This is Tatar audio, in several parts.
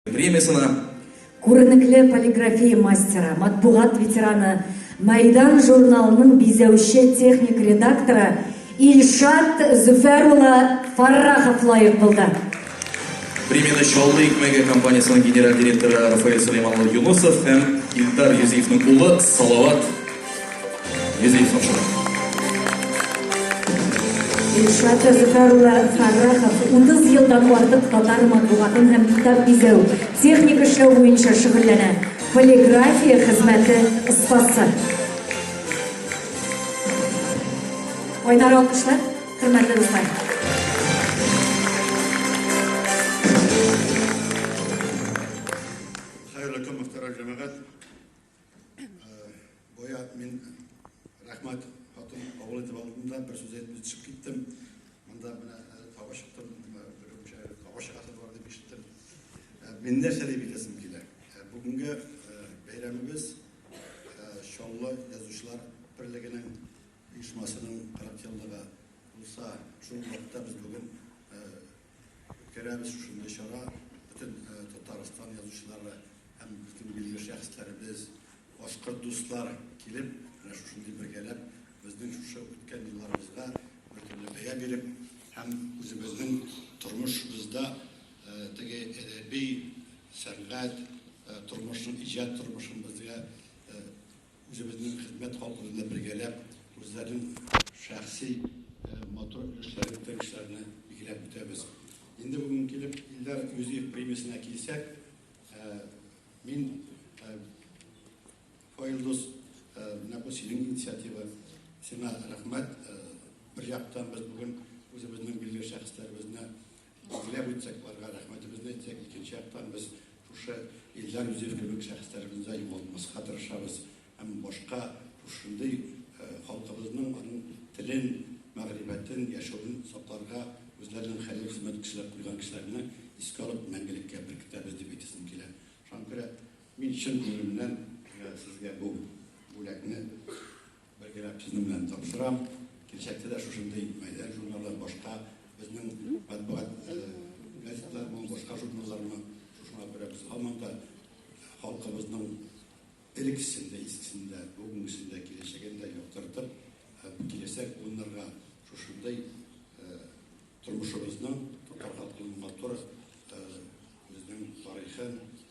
Премиясына күренекле полиграфия мастера, матбугат ветераны, Майдан журналының бизәүче техник редакторы Ильшат Зөфәр улы Фаррахов лаек булды. Премияны Чаллы икмәге компаниясының генераль директоры Рафаэль Сулейман улы Юнусов һәм Илдар Юзиевның улы Салават Илшат Зөфәр улы Фәррахов 30 елдан артык татар матбугатын һәм китап бизәү, техник эшләү буенча шөгыльләнә. Полиграфия хезмәте остасы. Кайнар алкышлар, хөрмәтле дуслар. Хәерле көн, мөхтәрәм җәмәгать. Боя мин рәхмәт хатын кабул итеп алдымда бер сүз әйтмей төшеп киттем. Монда менә тава чыктым, берүмчә тава чыгасы бар дип ишеттем. Мин нәрсә дип әйтәсем килә? Бүгенге бәйрәмебез Чаллы язучылар берлегенең оешмасының 40 еллыгы булса, шул вакытта без бүген Үткәрәбез шушындый чара бөтен Татарстан язучылары һәм безнең билгеле шәхесләребез, башкорт дуслар килеп, менә шушындый бергәләп безнең шушы үткән елларыбызга бер төрле бәя биреп һәм үзебезнең тормышыбызда теге әдәби, сәнгать тормышын, иҗат тормышын безгә Үзебезнең хезмәт халкы белән бергәләп, үзләренең шәхси матур өлешләрен, үтәлешләрне билгеләп үтәбез. Инде бүген килеп, Илдар Юзиев премиясенә килсәк, мин Фаилдус, менә бу синең инициатива, сиңа рәхмәт. Бер яктан без бүген үзебезнең билгеле шәхесләребезне Гөрләп үтсәк, аларга рәхмәтебезне әйтсәк, икенче яктан без шушы Илдар Юзеф кебек шәхесләребезне дә югалтмаска тырышабыз һәм башка шушындый э, халкыбызның аның телен, мәгърифәтен, яшәвен сакларга үзләренең хәлил хезмәт кешеләр куйган кешеләрне искә алып мәңгелеккә беркетәбез дип әйтәсем килә. Шуңа күрә мин чын күңелемнән э, сезгә бу бүләкне Бер генә сүзем белән тапшырам. Киләчәктә дә шушындый мәйдан журналлар башка безнең матбугат газеталар булып башка журналларны шушыңа күрә без һаман да халкыбызның элексен дә искесен дә бүгенгесен дә киләчәген дә яктыртып һәм киләчәк буыннарга шушындый тормышыбызның татар халкының матур безнең тарихын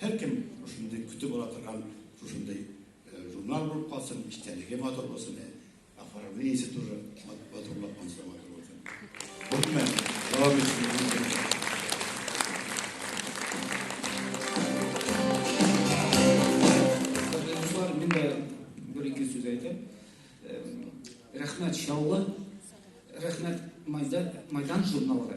Һәркем шушындый көтеп ала торган шушындый журнал булып калсын, истәлеге матур булсын, оформлениесе тоже матурлап монсы матур булсын. Бөтмен, дәвам итсен. Рәхмәт Чаллы, рәхмәт Майдан журналга.